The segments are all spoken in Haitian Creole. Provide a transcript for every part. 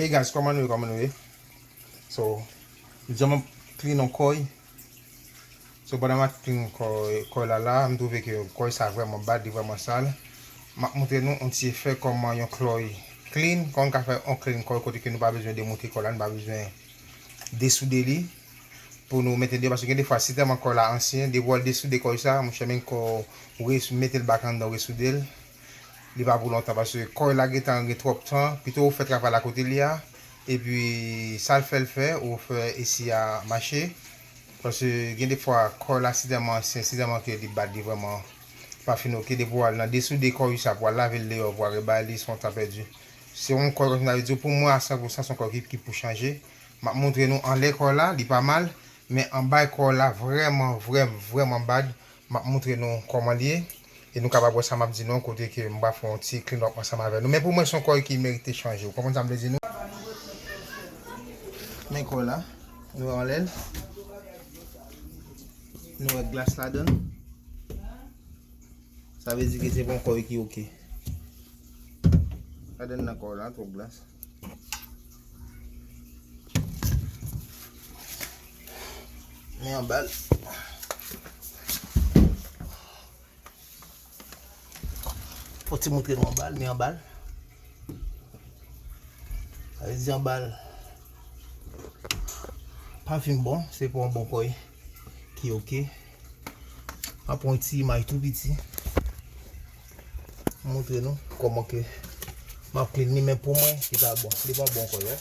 Hey guys kòman nou ye kòman nou ye So m janm ap clean yon kòy So pandan m ap clean kòy la la m twouve ke kòy sa vrèman bad li vrèman sal M ap moutre nou yon ti efè kòman yon klòy clean kòman nou ka fè yon clean kòy kote ke nou pa bezwen demoute kòy la nou pa bezwen desoude li pou nou mete l deyò paske gen de fwa si tèlman kòy la ansyen depi wè l desoude kòy sa monchè menm ke w mete l back anndan w resoude l. Li pa pou lontan paske kòy la gentan gen twòp tan pito ou fè travay la kote li a epi sal fèl fè ou fè esi a mache paske gen de fwa kòy la si tèlman ansyen si tèlman ke li bat li vrèman pa fin ok depi ou al nan desoude kòy usa pou al lavel deyò pou al rebay li son tan pèdi se yon kòy kòmsi m ta vle di w pou mwen a san pou san son kòy ki ki pou chanje map montre nou anlè kòy la li pa mal men anbay kòy la vrèman vrèm vrèman bad map montre nou kòman l ye. E nou kapab wè sa m ap di nou an kote ke m va fè yon ti clean up ansanm avè nou. Men pou mwen se yon kò ki merite chanje. Ou konprann sa m vle di nou? Men kò la. Nou wè anlè l. Nou wè glas ladan l. Sa vle di ke se pa yon kò ki ok. Gade nan kò w la, twòp glas. Men anba l. Fò ti moutre nou anbal, mi anbal. A vezi anbal. Pa fin bon, se pou an bon kòy. Ki oke. A pon ti imaj tou piti. Moutre nou, kòman ke. Map kli ni men pou mwen, ki pa bon. Li pa bon kòy, wè.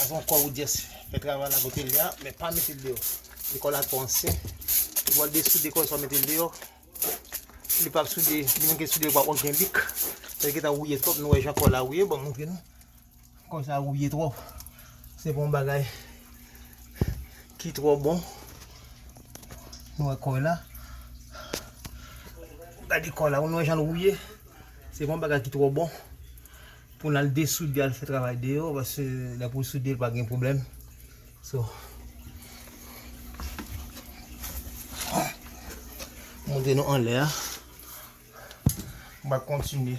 Avan kò ou jès fè travay la kote li a, men pa mete l deyò. Li kò la twò ansyen. Ou wòl de soude kò sa mete l deyò. Li pa soude, li menm ke soude pa wòl gen lik. Fè ki ta wouye twòp nou wè jan kò la wouye, bon montre nou. Kò sa rouye twòp. Se pa yon bagay ki twò bon. Nou wè kò la. Gade kò la. Ou nou wè jan l rouye. Se pa yon bagay ki twò bon. Pou n al desoude al fè travay deyò. Pase lè pou soude l pa gen pwoblèm. So. Montre nou anlè a. M ap kontinye.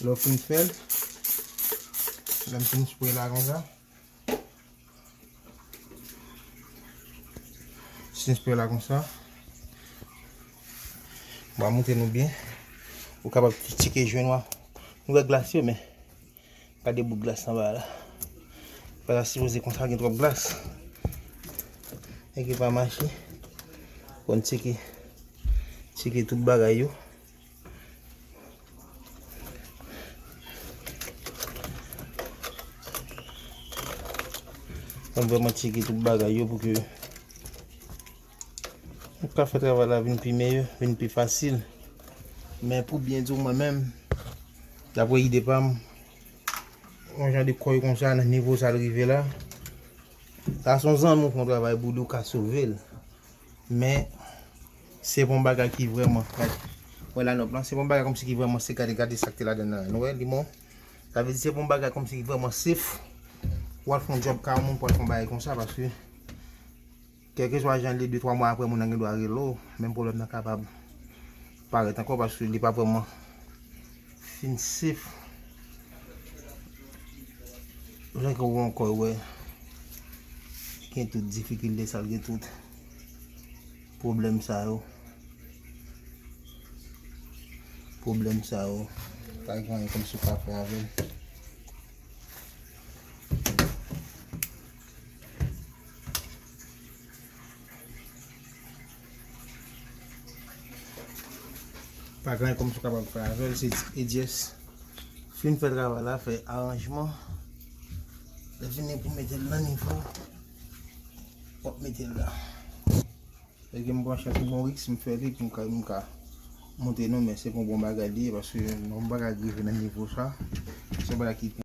Lè w fin fè l, lè m fin spre la konsa, m fin spre la konsa, m va moute nou byen, ou kapab tcheke jwen w a, nou wè glas yo men. Gade bout glas anba a la. Li pa ta sipoze konsa gen twòp glas. Nèg yo pa mache konn tcheke tcheke tout bagay yo. Konn vreman tcheke tout bagay yo pou ke Ou ka fè travay la vin pi meyè, vin pi fasil. Men pou byen di w mwen menm, dapre ide pa m, yon jan de kòy kon sa nan nivo sa l rive la, sa s on zanmi w fè yon travay pou li w ka sove l. Men, se pa yon bagay ki vrèman, wè la nòt lan, se pa yon bagay kòmsi ki vrèman se gade gade sa k te ladan l lan. Nou wè, li bon. Sa vle di se pa yon bagay kòmsi ki vrèman sef pou w al fè yon djòb ka yon moun pou w al fè yon bagay kon sa paske. Kèlkeswa jan l ye, de twa mwa apre moun nan gen dwa rele w, menm pwoblèm nan kapab parèt ankò paske li pa vrèman fin sef jan ke w ankò wè gen tout difikilte sa l gen tout pwoblèm sa yo pwoblèm sa yo pa gen anyen kòmsi w pa fè avè l. Pa gen anyen kòm si w kapab fè avè l, se di e dyès. Fin fè travay la, fè aranjman. Lè fini pou mete l nan nivo, w ap mete l la. Lè gen m branche sou bon riks, m fè li pou m ka m ka montre nou men se pa yon bon bagay li ye paske m pa ka rive nan nivo sa. Se yon bagay ki pou.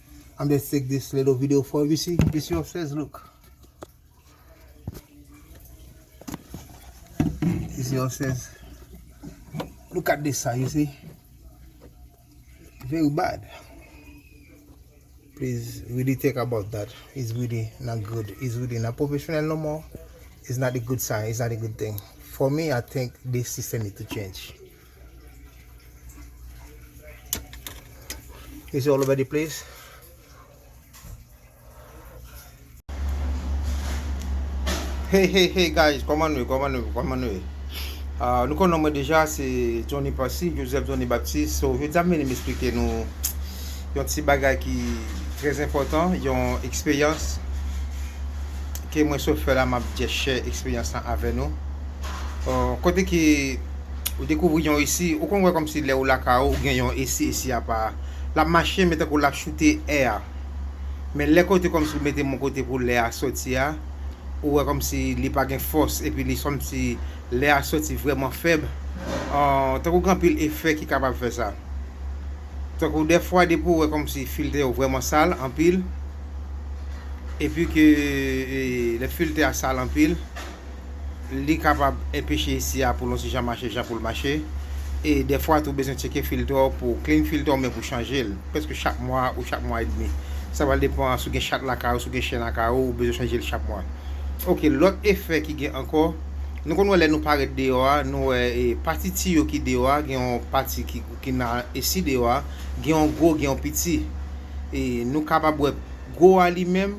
I'm just take this little video for you see this your upstairs look this your upstairs look at this side you see very bad please really think about that it's really not good it's really not professional no more it's not a good sign it's not a good thing for me I think this system need to change Is all over the place. Hey hey hey guys, koman nou, koman nou, koman nou. Uh, nou konon mwen deja se Johnny Passy, Joseph Johnny Baptiste. So, je dam meni m'esplike nou yon ti bagay ki trez important, yon eksperyans ke mwen sot fè la map dje share eksperyans la avè nou. Uh, kote ki Ou dekouvri yon esi, ou konn wè kòmsi lè ou lakay ou, ou gen yon esi, esi a pa. L ap mache men tankou l ap choute è a. Men lè kote kòmsi ou mete moun kote pou lè a soti a, ou wè kòmsi li pa gen fòs epi li kòmsi lè a soti vrèman fèb. Tankou gen anpil efè ki kapab fè sa. Tankou dèfwa depi ou wè kòmsi filtè yo vrèman sal anpil epi ke lè filtè a sal anpil. li kapab enpeche esi a pou lontijan mache jan poul mache e dèfwa tou bezwen tcheke filtè w pou clean filtè w men pou chanje l prèske chak mwa ou chak mwa edmi sa pral depan si w gen chat lakay ou si w gen chen lakay ou ou bezwen chanje l chak mwa ok lòt efè ki gen ankò nou konn wè lè nou parèt deyò a nou wè e pati tiyo ki deyò a gen yon pati ki nan esi deyò a gen yon gwo gen yon piti e nou kapab wè gwo a li menm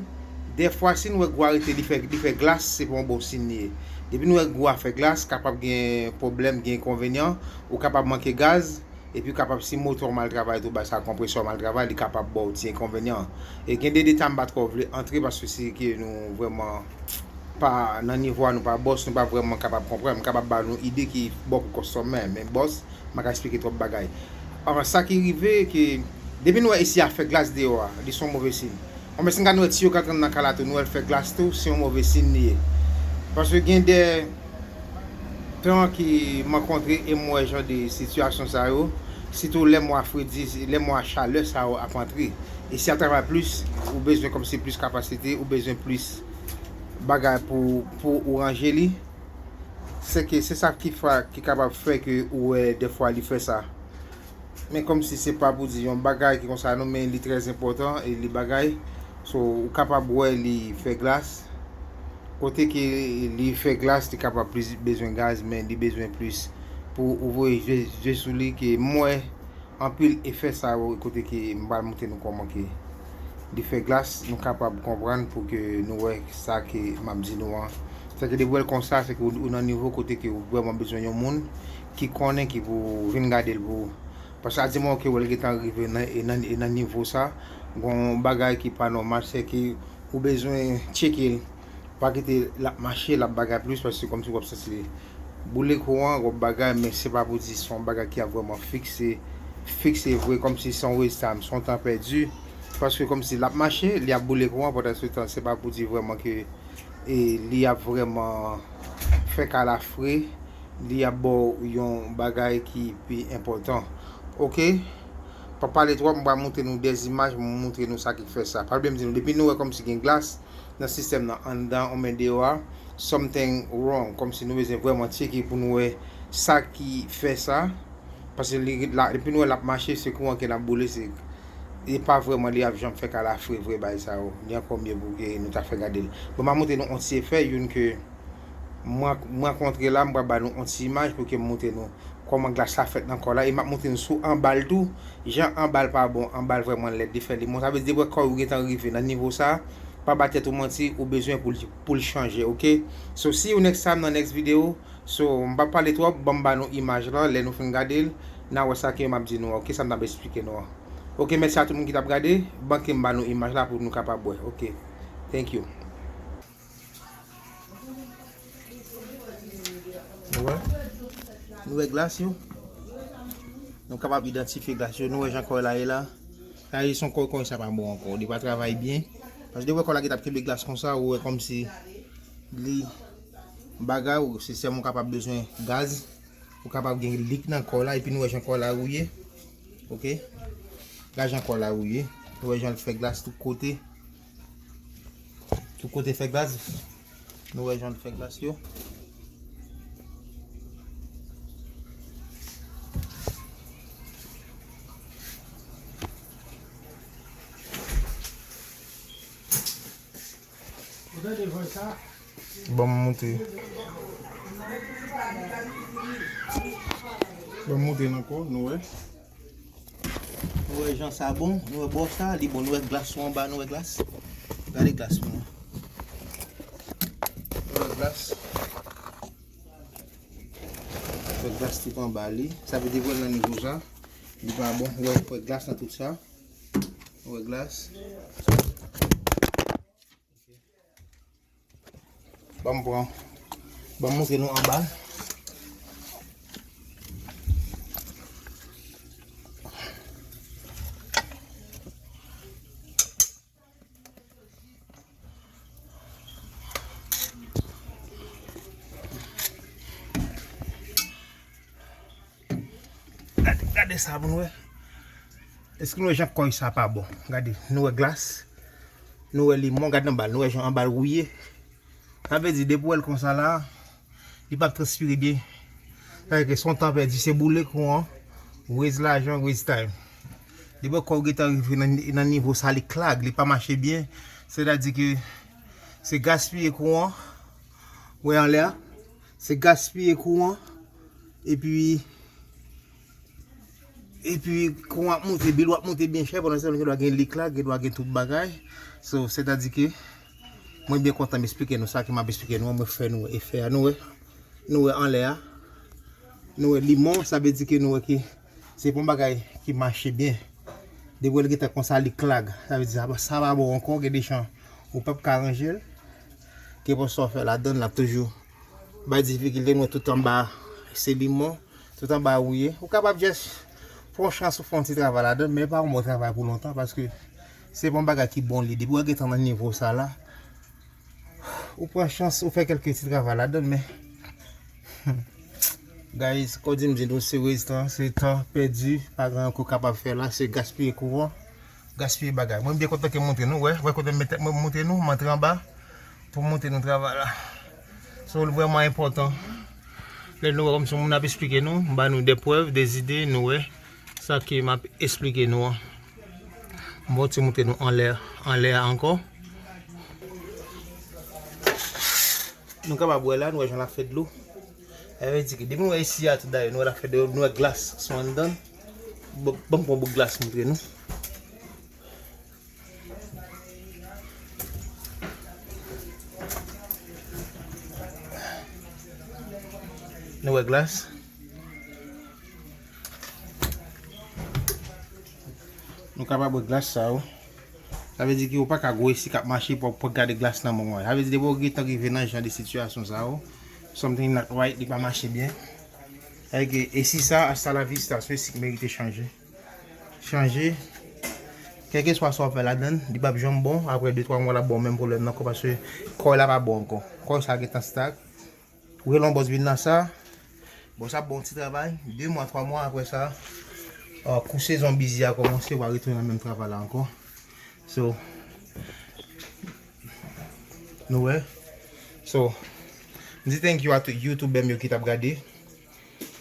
Dèfwa si n wè gwo a rete li fè li fè glas se pa yon bon siy li ye. Depi n wè gwo a fè glas kapab gen pwoblèm gen enkonvenyan ou kapab manke gaz epi kapab si motò w mal travay tou bay sa konpresè w mal travay li kapab ba w ti enkonvenyan an. E gen de deta m pa twò vle antre paske se ke nou vrèman pa nan nivo a nou pa bòs nou pa vrèman kapab konprann m kapab ba nou ide ki bon pou kòstòmè men bòs m pa ka esplike twòp bagay. Sa ki rive ke depi n wè esi a fè glas deyò a li se yon move siy. Bon men si n gad nou wè tiyo k ap rann nan kay la tou nou wè l fè glas tou se yon move sin li ye paske gen de tan ki m rankontre e m wè jan de sitiyasyon sa yo sitou lè mwa fredi lè mwa chalè sa yo ap antre e si y ap travay plis ou bezwen kòmsi plis kapasite ou bezwen plis bagay pou pou ou ranje li sèke se sa ki fè ki kapab fè ke ou wè dèfwa li fè sa Men komsi se pa pou di yon bagay ki konsa non men li trè enpòtan e li bagay so ou kapab wè li fè glas kote ke li fè glas li kapab plis bezwen gaz men li bezwen plis pou ou voye je je sou li ke m wè anpil efè sa yo kote ke m pral montre nou kòman ke li fè glas nou kapab konprann pou ke nou wè sa ke m ap di nou an se ke depi w wè l konsa se ke ou nan nivo kote ke ou vrèman bezwen yon moun ki konnen ki pou vin gadel pou ou paske a dimoman ke wèl gentan rive nan nivo sa gon bagay ki pa nòmal se ke ou bezwen tchekel pa kite lap mache lap bagay plis paske kòmsi wap santi li boule kou an wap bagay men se pa pou di son bagay ki ap vreman fikse fikse vre kòmsi son westam son tan pèdi paske kòmsi lap mache li ap boule kou an pandan se tan se pa pou di vreman ke e li ap vreman fè kalafre. Li ap ba w yon bagay ki pi enpòtan. Ok. Pa pale twòp, m pral montre nou 2 imaj pou m montre nou sa ki fè sa. Pral byen m di nou, depi nou wè kòmsi gen glas nan sistèm nan anndan oubyen deyò a, something wrong. Kòmsi nou bezwen vrèman tcheke pou nou wè sa ki fè sa. Pase li ret la, depi nou wè l ap mache, se kouran ki nan boule, se li pa vrèman li ap janm fè kalafre vre bay sa yo. Ni ankò mye pou ke nou ta fè gade l. Bon m ap montre nou on ti efè, youn ke. Mwen kontre la, m pral ba nou on ti imaj pou ke m moutre nou kòman glas la fèt nan kò la e m ap moutre nou sou anba l tou, jan anba l pa bon, anba l vrèman lèd, li fè li bon. Sa vle di depi wè kò ou gen tan rive nan nivo sa, pa ba tèt ou manti, ou bezwen pou l pou l chanje ok. So see you next time nan next video, so m pa pale twòp, ban m ba nou imaj lan, lè nou fin gade l, n a wè sa ke m ap di nou an ok, sa m t ap esplike nou an. Ok mèsi a tout moun ki t ap gade, ban ke m ba nou imaj la pou nou kapab wè ok. Thank you. Nou wè, nou wè glas yo. Nou kapab idantifye glas yo. Nou wè jan kò la ye la. Sa ye son kò kò sa pa bon ankò. Li pa travay byen. Paske depi wè kò la ki tap kenbe glas konsa ou wè kòm si li bagay ou se sèm ou kapab bezwen gaz. Ou kapab gen lik nan kò la. Epi nou wè jan kò la rouye. Ok. Gade jan kò la rouye. Nou wè jan l fè glas tout kote. Tout kote fè glas. Nou wè jan l fè glas yo. Bon m moute. Bon m moute nan kò nou wè. Nou wè jan sa bon, nou wè bò sa li bon, nou wè glas yo anba, nou wè glas. Gade glas nou. Nou wè glas. Nou wè glas tout anba li. Sa vle di wè nan nivo sa. Li pa bon. Nou wè glas nan tout sa. Nou wè glas. Banm pran. Banm montre nou anba. Gade sa pou nou wè. Eske nou wè jan kòy sa pa bon. Gade, nou wè glas. Nou wè limon. Gade anba l. Nou wè jan anba l wouye. Sa vle di depi ou wè l konsa la a, li pa ap transpire byen. Sa vle di se yon tan pèdi. Se boule kou an. Wez lajan, wez time. Depi yon kòy gentan rive nan nivo sa a, li klag. Li pa mache byen. Sètadi ke se gaspiye kou an. Ou wè anlè a. Se gaspiye kouran epi epi kouran ap moute, bil ou ap moute byen chè pandan se tan nou gen dwa gen lik la, gen dwa gen tout bagay. So, sètadi ke mwen byen kontan m esplike nou sa ke m ap esplike nou an, mwen fè nou efè a. Nou wè, nou wè anlè a, nou wè limon, sa vle di ke nou wè ke. Se pa yon bagay ki mache byen. Depi w wè l gentan konsa li klag, sa vle di sa pa bon ankò, gen dechan ou pap ka ranje l. Kenpòt sa w fè ladan l ap toujou bay difikilte. Mwen tout anba se limon, tout anba wouye. Ou kapab jès fè yon chans ou fè yon ti travay ladan l, men pa yon bon travay pou lontan paske se pa yon bagay ki bon li. Depi w wè l gentan nan nivo sa la, ou pran chans ou fè kèlke ti travay ladan l men. Humm guys kodim di nou se wes lan se tan pèdi pa gen anyen ke w kapab fè la se gaspiye kouran gaspiye bagay mwen byen kontan ke m montre nou wè kote m met tèt mwen pou m montre nou m antre anba pou m montre nou travay la so l vrèman enpòtan lè nou wè kòmsi yon moun ap esplike nou m ba nou de prèv de zide nou wè. Sa ke m ap esplike nou an. M bon ti moute nou anlè, anlè a ankò. Nou kapab wè la, nou wè jan l ap fè dlo. Sa vle di ke depi nou wè isi a tou dayè, nou wè l ap fè dlo, nou wè glas sou anndan l. Ban m pran bout glas montre nou. Nou wè glas. Nou ka pa bwè glas sa yo. Sa vle di ki ou pa ka gwo espri k ap mache pou w gade glas nan men w. Sa vle di depi w gen tan rive nan jan de sitiyasyon sa yo, something not right, li pa mache byen. Sa vle di ke espri sa a, hasta la vista, se yon espri ki merite chanje. Chanje, kèlkeswa sa w fè ladan l, li pap janm bon. Aprè de twa mwa l ap ba w menm pwoblèm nan kò paske kò w la pa bon ankò. Kò sa a gen tan stag. Ou rele yon bòs vin nan sa, bòs la ap ba w ti travay, 2 mwa, 3 mwa aprè sa, kou sezon bizi a kòmanse, wa retounen nan menm travay la ankò. So, nou wè? So, m di thank you a tout youtubè m yo ki t ap gade,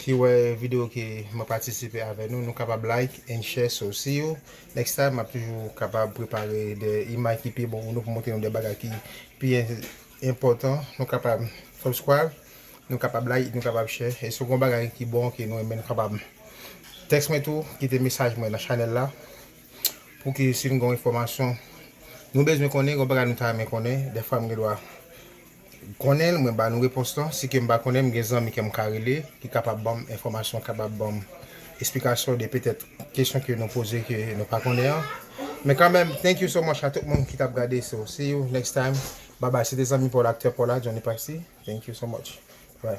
ki wè videyo ke m ap patisipe avè nou, nou kapab like and share, so see you next time, m ap toujou kapab prepare de imaj ki pi bon pou nou, pou montre nou de bagay ki pi. enpòtan nou kapab subscribe nou kapab like nou kapab share e si w gon bagay ki bon ke nou renmen nou kapab text mwen tou kite mesaj mwen nan chanèl la pou ke si nou gon enfòmasyon nou bezwen konnen gon bagay nou ta renmen konnen defwa m gen dwa konnen mwen ba nou repons lan si ke m pa konnen m gen zanmi ke m ka rele ki kapab banm enfòmasyon kapab banm esplikasyon de petèt Kesyon ke nou poze ke nou pa konnen an Men kanmenm thank you so much a tout moun ki tap gade so see you next time bye bye se te zanmi paul acteur paul a Johnny Paxi thank you so much bye.